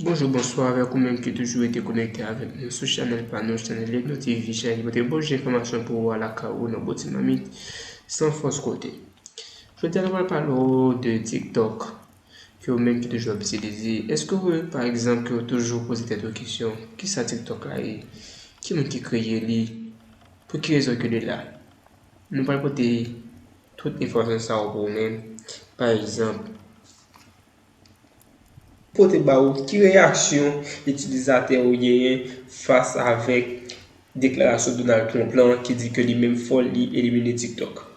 Bonjou bonswa avèk ou menm ki toujou rete konekte avèk nou sou chanèl pa nou chanèl Leglo TV chanèl ki pote bon jan enfòmasyon pou ou a lakay ou nan bon ti mamit san fòs kote Jodi a nou pral pale ou de tiktok ke ou menm ki toujou ap itilize, eske ou remake pa egzanp ke ou toujou poze tèt ou kesyon, kisa TikTok la ye? Ki moun ki kreye li? Pou ki rezon ke li la? Nou pral pote tout enfòmasyon sa yo pou ou menm, pa egzanp, pote ba ou ki reyaksyon itilizatè yo genyen fas avèk deklarasyon Donald Trump lan ki di ke li menm fò li elimine TikTok.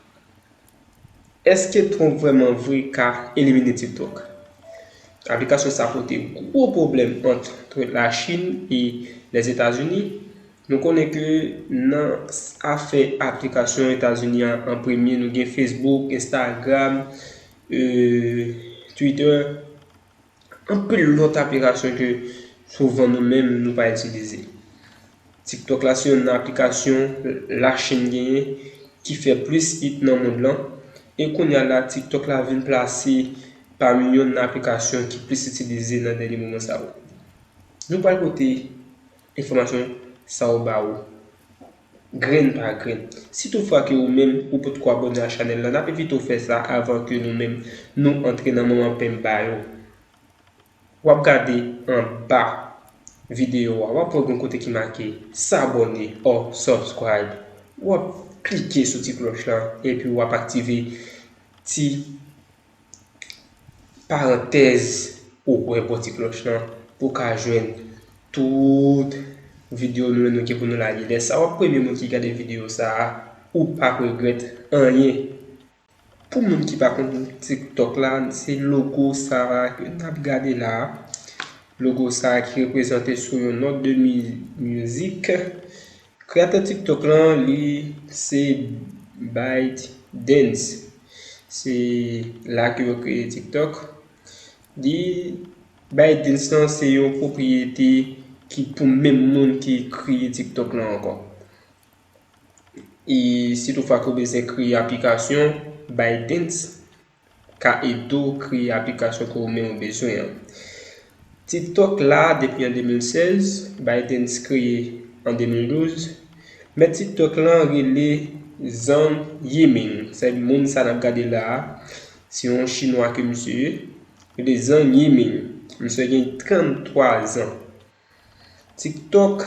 Èske Trump vrèman vre ka elimine TikTok? Aplikasyon sa pote gwo pwoblèm antre Lachin e Lèzetazini. Nou konnen ke nan afè aplikasyon Etazini a an premye nou gen Facebook, Instagram, Twitter. Anpil lòt aplikasyon ke souvan nou menm nou pa itilize. TikTok la se youn nan aplikasyon Lachin genyen ki fè plis it nan mond lan, e kounya la TikTok la vin plase pami youn nan aplikasyon ki plis itilize nan dènye moman sa yo. Nou pral pote enfòmasyon sa yo ba ou. Grenn pa grenn. Si tout fwa ke ou menm ou potko abòne a chanèl lan nap envite w fè sa avan ke nou menm nou antre nan moman penmba yo. Wap gade anba video a wap wè gon kote ki make s'abonner or subscribe wap klike sou ti klòch lan epi wap aktive ti Parantèz Ou kwè bò ti klòch lan pou w ka jwenn tout video nou yo nou gen pou nou lage lè sa wap premye moun ki gade video sa a ou pap regrèt anyen pou moun ki pa konn tiktok la se logo sa a ke nap gade la a logo sa a ki reprezante sou yon nòt de mizik Kreyatè TikTok lan li se ByteDance. Se la ke yo kreye TikTok. Li ByteDance lan se yon pwopriyete ki pou menm moun ki kreye TikTok lan ankò. E si tou fwa ke w bezwen kreye aplikasyon ByteDance. ka ede w kreye aplikasyon ke ou menm bezwen an. TikTok la depi an 2016, ByteDance kreye an 2012. Mèt TikTok lan rele Zhang Yiming, sa vle di moun sa nap gade la a, se yon chinwa ke misye ye, rele Zhang Yiming. Misye gen 33 zan. TikTok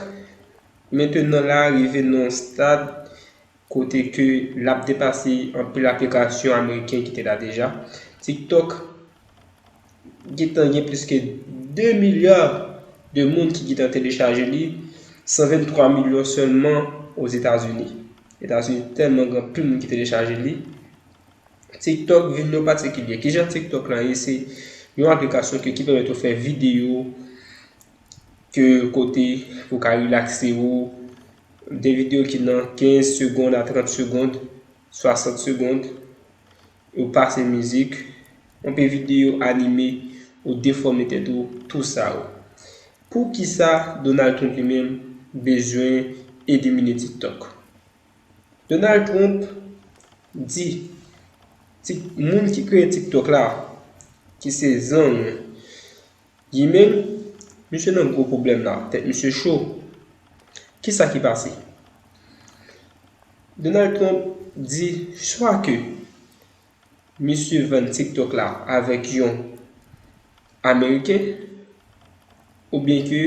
mentenan la rive nan yon stad kote ke lap depase anpil aplikasyon ameriken ki te la deja. TikTok gentan gen plis ke 2 milya de moun ki gentan telechaje li, 123 milyon sèlman Ozetazini. Etazini tèlman gen anpil moun ki telechaje li. TikTok vin yon patikilye. Kijan TikTok la ye se yon aplikasyon ke ki pèmèt ou fè videyo ke kote pou ka relakse ou. De videyo ki nan 15 segond a 30 segond, 60 segond. Ou pase mizik, anpe videyo anime, ou defòme tèt ou, tou sa ou. Poukisa Donald Trump li menm bezwen elimine TikTok? Donald Trump di Tik moun ki kreye TikTok la ki se Zhang Yiming misye nan gwo pwoblèm la, tèt misye cho. Kisa ki pase? Donald Trump di swa ke Misye vann tiktok la avèk yon ameriken ou byen ke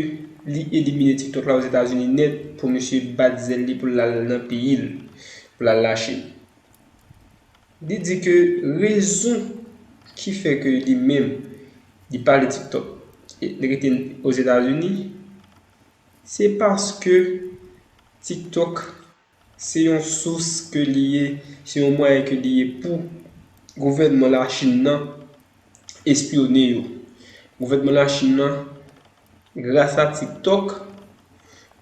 li elimine tiktok la ozetazini nèt pou misye bat zèl li pou l al nan peyi l pou l al lache li di ke rezon ki fè ke li menm li pa ale tiktok li rete ozetazini se paske tiktok Se yon sous ke li ye, se yon mwayen ke li ye pou gouvènman Lachin nan espyone yo. Gouvènman Lachin nan, gras a TikTok,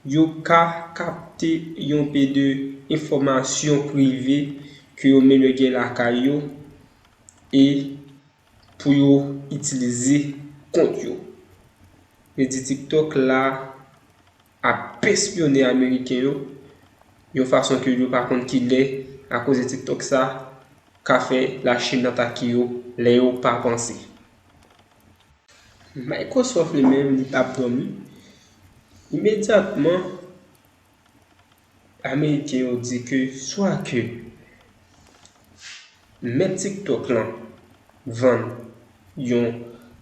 yo ka kapte yon pe de enfòmasyon prive ke yo menm yo gen lakay yo e pou yo itilize kont yo. Vle di TikTok la. ap pespyone ameriken yo yon fason ke yo pa konn kilè a koze tiktok sa ka fè la chine atake yo lè yo pa panse. Microsoft li menm li pap domi imedyatman. Ameriken yo di ke swa ke mèt TikTok lan vann yon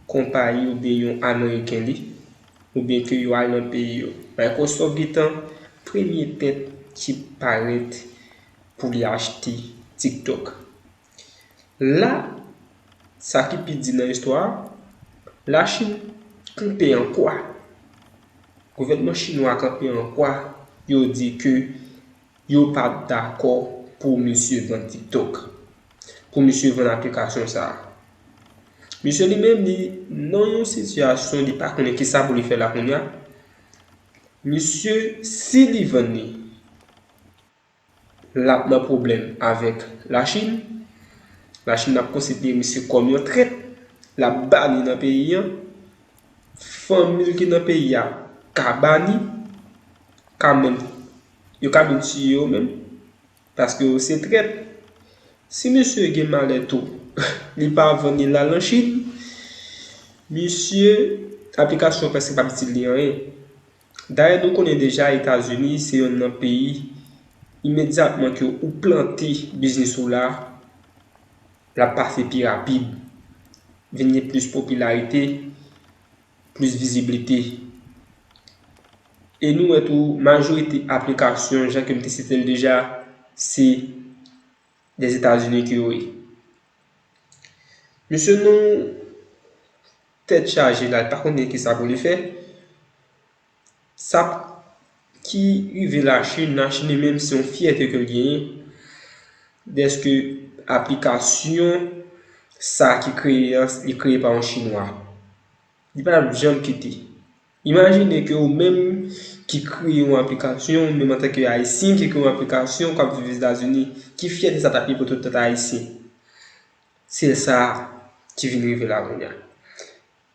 konpayi oubyen yon ameriken li, oubyen ke yo al nan peyi yo. Microsoft gentan premye tèt ki parèt pou li achte TikTok. La, sa ki pi di nan istwa a, Lachin knpe an kwa? Gouvènman chinwa a kanpe an kwa, yo di ke yo pa p dakò pou misye vann TikTok, pou misye vann aplikasyon sa a. Misye li menm li nan yon sitiyasyon li pa konnen ki sa pou li fè la kounye a. Misye, si li vann li. Lap nan pwoblèm avèk la Chin. La Chin ap konsidere misye kòm yon trèt. Lap bani nan peyi an. Fanmil ki nan peyi a ka bani. Ka menm, yo ka menm tiye yo menm. Paske yo se trèt. Si misye gen malè tou, li pa vann li lal nan Chin. Misye, aplikasyon prèske pap itil li anyen. Dayè nou konnen deja Etazini se yonn nan peyi imedyatman ke ou plante biznis ou la, l ap pase pi rapid, vin gen plis popilarite, plis viziblite. E nou wè tou majorite aplikasyon jan ke m te site l deja se Dèzetazini ke yo ye. Mesye nou. Tèt chaje la li pa konn gen kisa pou li fè. Sa ki rive la chine, la chine li menm se yon fyète ke l genyen dèske aplikasyon sa ki kreye an li kreye pa yon chinwa. Li pa tap janm kite. Imajine ke ou menm ki kreye yon aplikasyon, ou menm an tan ke ayisyen ki kreye yon aplikasyon kap viv Etazini, ki fyète sa tap ye pou tout lòt ayisyen. Se sa ki vin rive la kounye a.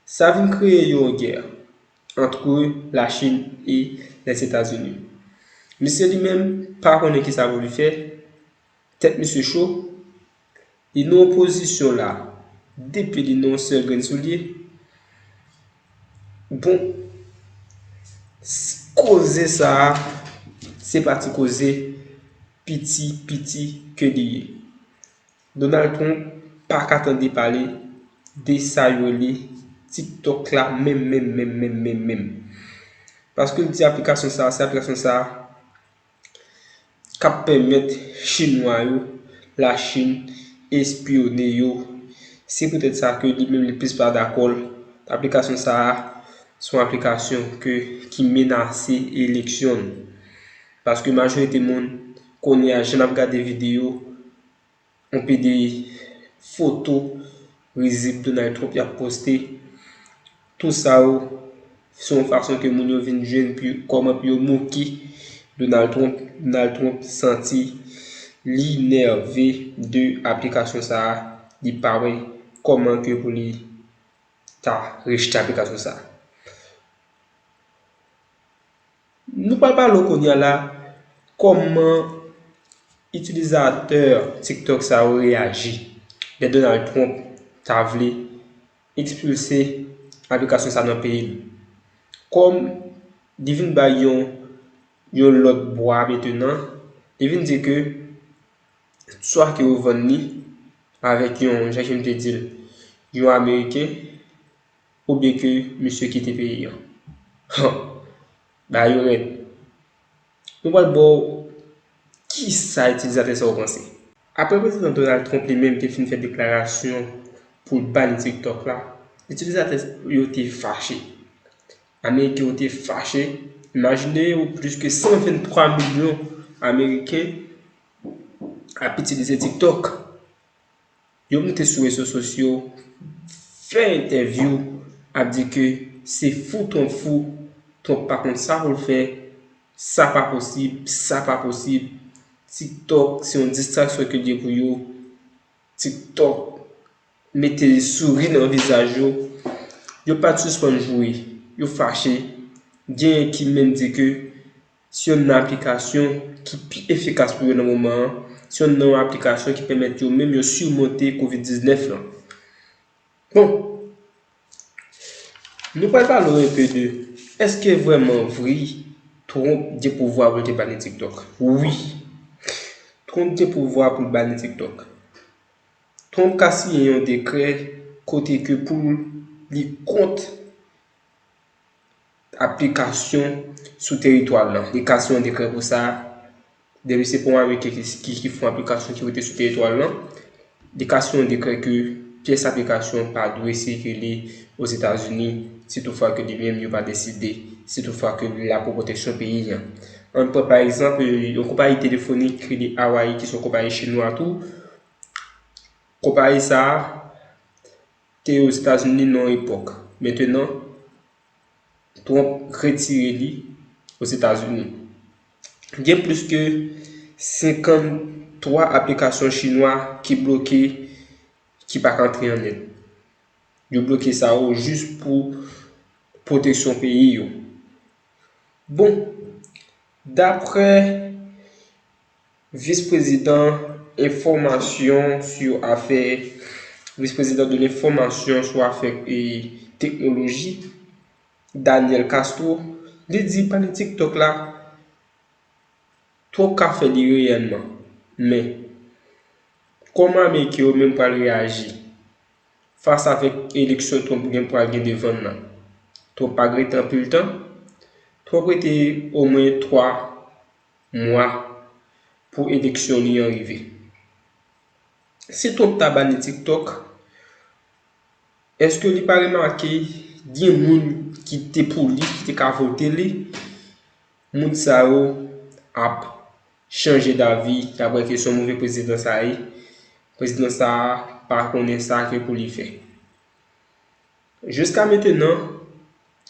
Sa vin kreye yon gè antre Lachin e Lèzetazini. Misye li menm pa konnen ki sa pou li fè, tèt misye cho, li nan yon pozisyon la, depi li nan yon sèl grenn soulye, bon, koze sa a, se pa ti koze, piti, piti ke li ye. Donald Trump paka tande pale de sa yo rele TikTok la menm menm menm menm menm menm. Paske l di aplikasyon sa a se aplikasyon sa a k ap pèmèt chinwa yo, Lachin, espyone yo. Se poutèt sa ke li menm li plis pa dakò l. Aplikasyon sa a se yon aplikasyon ke ki menase eleksyon l. Paske majorite moun kounye a jan n ap gade videyo On pede foto rizib Donald Trump yap poste. Tou sa yo se yon fason ke moun yo vin jwenn pou kòman pou yo moke Donald Trump. Donald Trump santi li nève de aplikasyon sa a. Li pa wè kòman ke pou li ta rejte aplikasyon sa a. Nou pral pale w kounye a la kòman itilizatè TikTok sa yo reyaji lè Donald Trump ta vle ekspilse aplikasyon sa nan peyi l. Kòm li vin bay yon yon lòt bwa metenan, li vin di ke swa ke yo vann li avèk yon, jan ke m te di l, yon ameriken Oubyen ke misye kite peyi an. Huh! Bagay yo rèd. Nou pral ba w kisa itilizatè sa yo panse. Aprè Prezidan Donald Trump li menm te fin fè deklarasyon pou l bani TikTok la, itilizatè yo te fache. Ameriken yo te fache. Imajine w plis ke 123 milyon Ameriken ap itilize TikTok. Yo moute sou rezo sosyo fè entèvyou ap di ke se fou Trump fou, Trump pa konn sa pou l fè, sa pa posib, sa pa posib, TikTok se yon distraksyon ke l ye pou yo, TikTok mete souri nan vizaj yo. Yo pa t sispann joure, yo fache, genyen ki menm di ke Se yonn nan aplikasyon ki pi efikas pou yo nan moman an, se yonn nan yon aplikasyon ki pèmèt yo menm yo surmonte covid 19 lan. Bon, nou pral pale w enpe de, eske vrèman vri Trump gen pouvwa pou l te bani TikTok? Wi, Trump gen pouvwa pou l bani TikTok. Trump ka siyen yon dekrè kote ke pou li kont aplikasyon sou teritwa l lan. Li ka siyen yon dekrè pou sa. Depi se pou yon Ameriken ki fè yon aplikasyon ki rete sou teritwa l lan, li ka siyen yon dekrè ke pyès aplikasyon pa dwe sikile Ozetazini si tou fwa ke li menm yo pa deside, si tou fwa ke li la pou pwoteksyon peyi an. Ann pran pa egzanp, yon konpayi telefonik ki rele Awayi ki se yon konpayi chinwa tou, konpayi sa a te Ozetazini nan yon epòk. Mentenan. Trump retire li Ozetazini. Gen plis ke 53 aplikasyon chinwa ki bloke ki pa ka antre an End. Yo bloke sa yo jis pou pwoteksyon peyi yo. Bon, dapre Vis Prezidan enfòmasyon sou afè Vis Prezidan de lenfòmasyon sou afè teknoloji, Daniel Castro, li di pale TikTok la twòp ka fè li reyèlman. Men, kòman Ameriken yo menm pral reyaji fas avèk eleksyon Trump gen pral gen devann nan? Trump pa k rete anpil tan. Trump rete omwen 3 mwa pou eleksyon li an rive. Si Trump ta bani TikTok, eske li pa remake gen moun ki te pou li, ki te ka vote li, moun sa yo ap chanje davi, y ap wè ke son move prezidan sa ye, prezidan sa pa konnen sa ke pou li fè. Jiska metenan,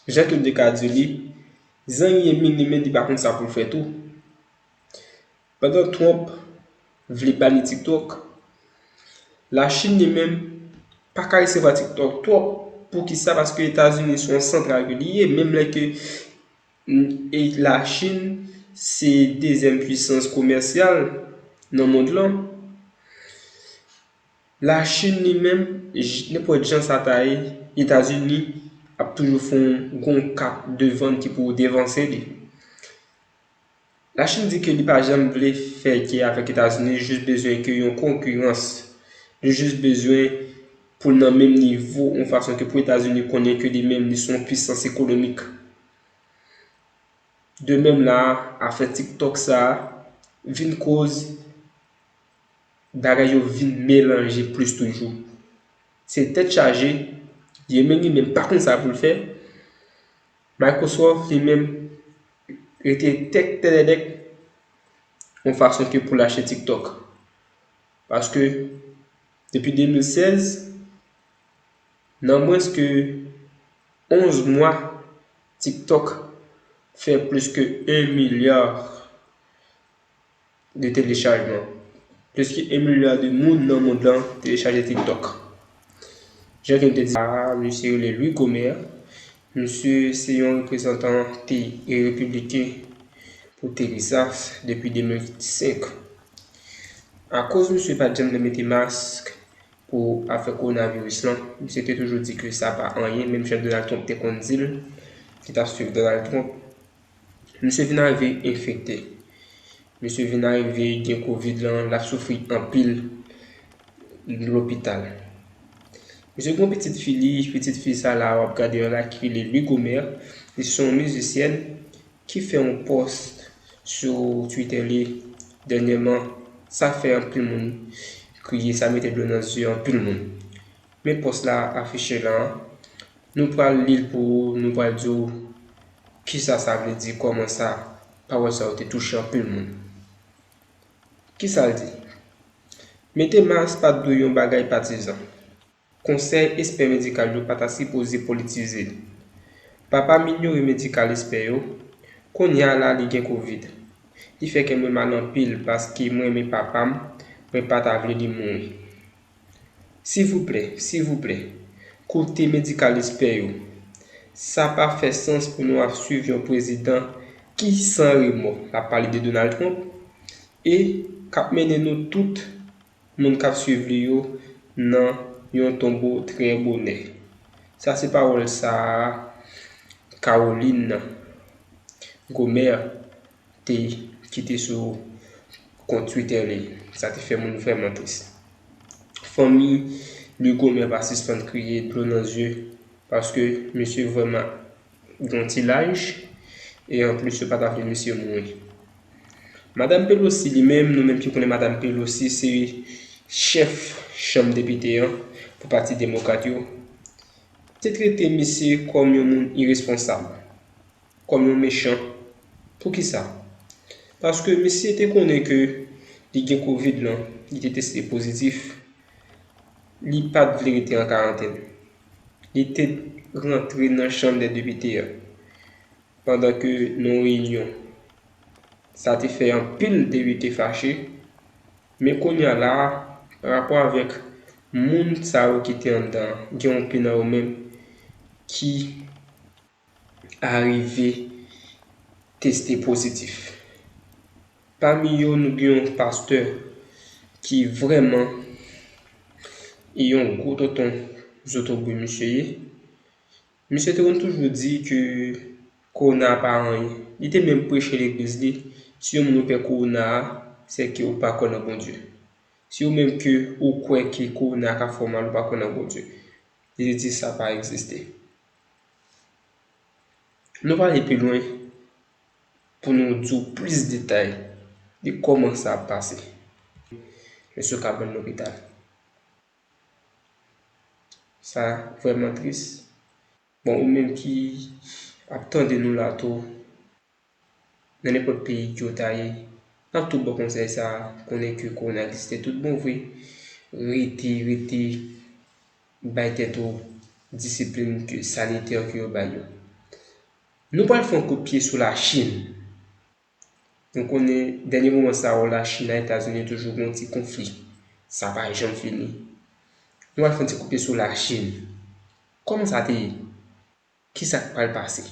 Jean Claude te ka di li, zangi Emini men li pa konn sa pou l fè tou. Pandan Trump vle bani TikTok, Lachin li menm pa ka resevwa TikTok twòp, poukisa paske Etazini se yon santral ke li ye, menm lè ke Lachin se dezyèm pwisans komèsyal nan mond lan. La Chine li menm, nenpòt jan sa ta ye, Etazini ap toujou fè yon gwo kat devan ki pou devanse li. La Chine di ke li pa janm vle fè gè avèk Etazini, li jis bezwen ke yon konkirans. Li jis bezwen pou l nan menm nivo yon fason ke pou Etazini konnen ke li menm li se yon pwisans ekonomik. De menm la a, afè TikTok sa a vin koz. Bagay yo vin melanje plis toujou. Se tèt chaje, Yemen li menm pa konn sa pou l fè, Microsoft li menm rete tèt tèdèdèk yon fason ke pou l achte TikTok. Paske depi 2016, nan mwens ke 11 mwa, TikTok fè plis ke 1 milyar. de telechajman. Pliske 1 milya de moun nan mond lan telechaje TikTok. Jan ke m te di a, misye rele Louis Gohmert. Misye se yon reprezantan te e repibliken pou Texas depi 2005. Akoz misye pa t janm vle mete mask pou afè kowonaviris lan, misye te toujou di ke sa pa anyen, menm jan Donald Trump te konn di l, ki t ap swiv Donald Trump. Misye vin arive enfekte. Misye vin arive gen covid lan, l ap soufri anpil lopital. Misye gen yon pitit fi li, pitit fi sa la w ap gade yo la ki rele Lugomère, li se yon mizisyèn ki fè yon pòs sou Twitter li dènyèman, sa fè anpil moun kriye, sa mete dlo nan zye anpil moun. Men pòs la afiche la a. Nou pral li l pou ou, nou pral di w kisa sa vle di, kòman sa pawòl sa yo te touche anpil moun. Kisa l di? Mete mas pa t dwe yon bagay patizan. Konsèy espè medikal yo pa ta sipoze politize l. Papa m inyore medikal espè yo, kounye a la li gen kovid. Li fè kè mwen mal anpil paske m renmen papa m, mwen pa ta vle li mouri. Silvouplè, silvouplè, koute medikal espè yo. Sa pa fè sans pou nou ap swiv yon prezidan ki san remò, l ap pale de Donald Trump, e k ap mennen nou tout moun k ap swiv li yo nan yon tonbo trè bonè. Sa se pawòl sa a Caroline Gohmert te kite sou kont Twitter li, sa te fè moun vrèman tris. Fanmi Lugomer pa sispann kriye dlo nan zye paske misye vrèman gen yon ti laj e anplis yo pa ta vle misye mouri. Madam Pelosi li menm, nou menm ki konnen Madam Pelosi se chèf chanm depite an pou pati demokrat yo, te trete misye kòm yon moun iresponsab. Kòm yon mechan. Poukisa? Paske misye te konnen ke li gen covid lan, li te teste pozitif, li pat vle rete an karantèn. Li te rantre nan chanm dè depite an pandan ke nan yon reyinyon. Sa te fè anpil depite fache, men kounya la a, parapò avèk moun sa yo ki te anndan an, gen yon pi nan yo menm ki arive teste pozitif. Pami yo nou gen yon pastè ki vrèman yon gwo tonton zotobre misye ye. Misye te konn toujou di ke kowona pa anyen. Li te menm preche legliz li, si yon moun pè kowona a, se ke ou pa kwè nan Bondye. Si ou menm ke ou kwè ke kowona ka fè w mal ou pa kwè nan Bondye. Li te di sa pa egziste. Nou va ale pi lwen pou nou di w plis detay de kòman sa ap pase. Mesye ka ban lopital. Sa vrèman tris. Bon ou menm ki ap tande nou la tou, Nan nenpòt peyi kew ta ye An tou bon konsèy sa konnen ke kowona egziste tout bon vre rete rete bay tèt ou disiplin ke sanitè ke yo bay yo Nou pral fon kout pye sou la chine Nou konnen dènye moman sa yo la chine a etazini toujou gon ti konfli sa pa janm fini Nou al fon ti kout pye sou la chine Kòman sa te ye Ki sa k pral pase?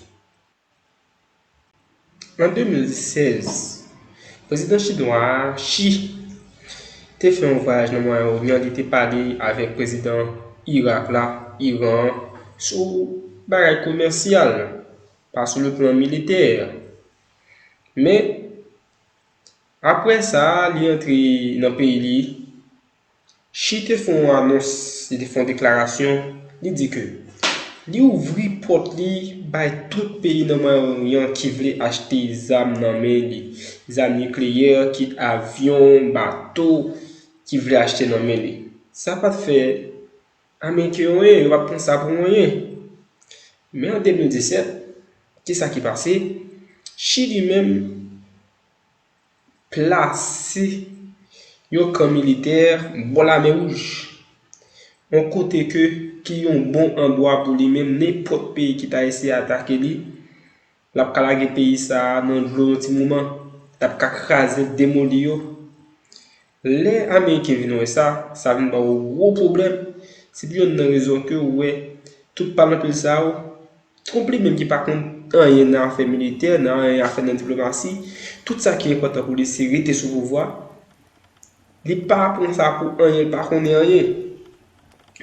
An 2016, prezidan chinwa a, Xi, te fè yon vwayaj nan Mwayen Oryan, li te pale avèk prezidan Irak la, Iran an, sou bagay komèsyal, pa sou le plan militè. Men, apre sa, li antre nan peyi li. Xi te fè yon anons, li te fè yon deklarasyon, li di ke li ouvri pòt li bay tout peyi nan Mwayen Oryan ki vle achte zam nan men li, zam nikleyè, kit avyon, bato, ki vle achte nan men li. Sa pa t fè Ameriken yo anyen, yo pa t pran sa pou anyen. Men an 2017, kisa ki pase? Xi li menm. plase yon kan militè bò lamè wouj, yon kote ke ki yon bon andwa pou li menm nenpòt peyi ki ta eseye atake li, l ap ka lage peyi sa a nan dlo yon ti moman, l ap ka kraze l, demoli yo. Lè Ameriken vin wè sa, sa vin ba yo gwo pwoblèm. Se pou yonn nan rezon ke ou wè tout palanpil sa yo, Trump li menm ki pa konn anyen nan afè militè, nan anyen afè nan diplomasi, tout sa ki enpòtan pou li se rete sou pouvwa. Li pa pran sa pou anyen, li pa konnen anyen.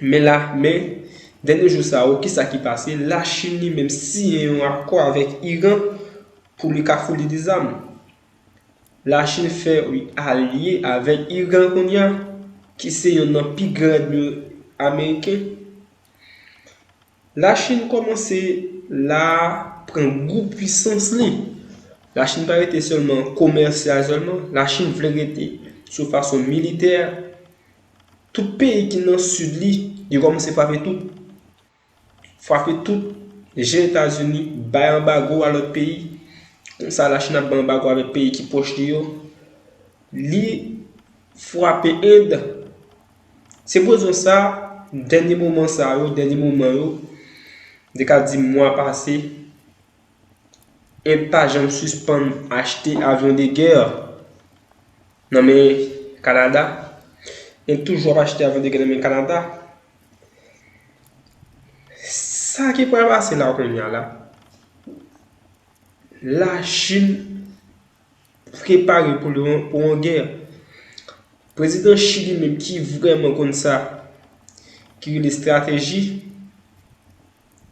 Men la, men, dènye jou sa yo, ki sa ki pase? Lachin li menm siyen yon akò avèk Iran pou li ka founi li zam. La Chine fè ui alye avèk Iran kounya ki se yonn nan pi gran èdmi ameriken. La Chine kòmanse la pran gou pwisans li. La Chine pa rete sèlman komèsyal sèlman, la Chine vle rete sou fason militè. Tout peyi ki nan sid li, li kòmanse frape tou. Fwape tout je etazini bay anbago a lòt peyi konsa lachin ap bay anbago avèk peyi ki pwòch li yo li fwape end se pou rezon sa dènye moman sa yo dènye moman yo de ka di mwa pase end pa janm sispann achte avyon de gè nan men kanada end toujou ap achte avyon de gè nan men kanada Sa ki pral pase la kounya la, la Chine prepare pou yon gè. Prezidan Xi li menm ki vreman konn sa ki rele estrateji.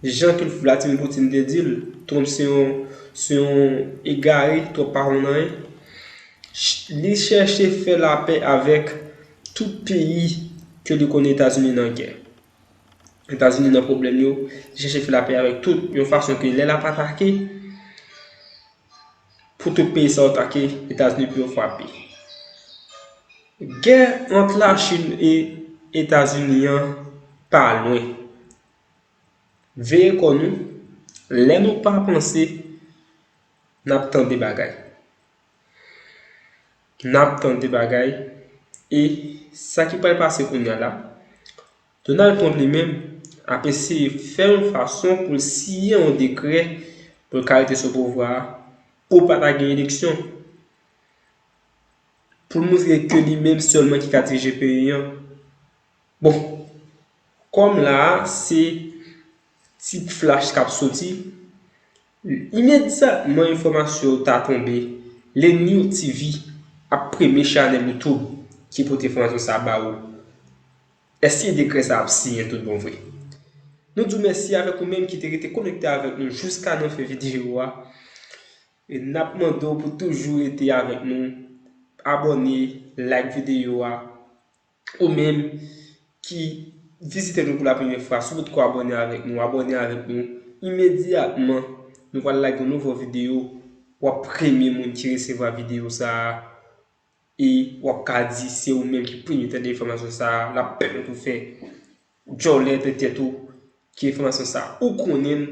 Jan ke Vladimir Poutine te di l, Trump se yon se yon egare, Trump pa konn anyen. Li chèche fè lapè avèk tout peyi ke li konnen Etazini nan gè. Etazini nan pwoblèm yo, li chèche fè lapè avèk tout, yon fason ke lè l ap atake, pou tout peyi sa yo atake, Etazini pou yo frape. Gè ant Lachin e Etazini an pa lwen. Veye kò nou, lè nou pa panse, n ap tande bagay. N ap tande bagay e sa ki pral pase kounya la, Donald Trump li menm ap eseye fè yon fason pou l siyen yon dekrè pou l ka rete sou pouvwa a pou pa ta gen eleksyon. Pou l montre ke li menm sèlman ki ka dirije peyi an. Bon Kòm la a se ti flash k ap soti Imedyatman enfòmasyon yo ta tonbe Lennyou TV ap premye chanèl Youtube ki pote enfòmasyon sa a ba ou Èske dekrè sa a ap siyen tout bon vre? Nou di w mèsi avèk ou menm ki te rete konekte avèk nou jouska nan fen videyo a E n ap mande w pou toujou rete avèk nou Abòne Like videyo a Ou menm ki vizite nou pou la premye fwa, si w potko abòne avèk nou, abòne avèk nou. Imedyatman, nou pral lage yon nouvo videyo, w ap premye moun ki resevwa videyo sa a. E w ap ka di se ou menm ki premye tande enfòmasyon sa a, l ap pèmèt ou fè. Ou djòlè de tèt ou ki enfòmasyon sa ou konnenl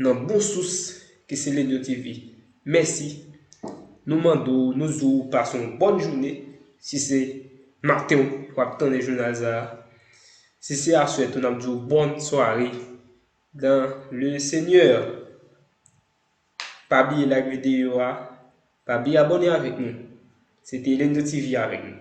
nan bon sous ki se Lenyo TV mèsi nou mande w nou di w pase yon bòn joune si se maten w wap tande jounal sa si se aswè tou nap di w bòn sware dan le senyè pa bliye like videyo a pa bliye abòne avèk nou se te Lenyo TV avèk nou.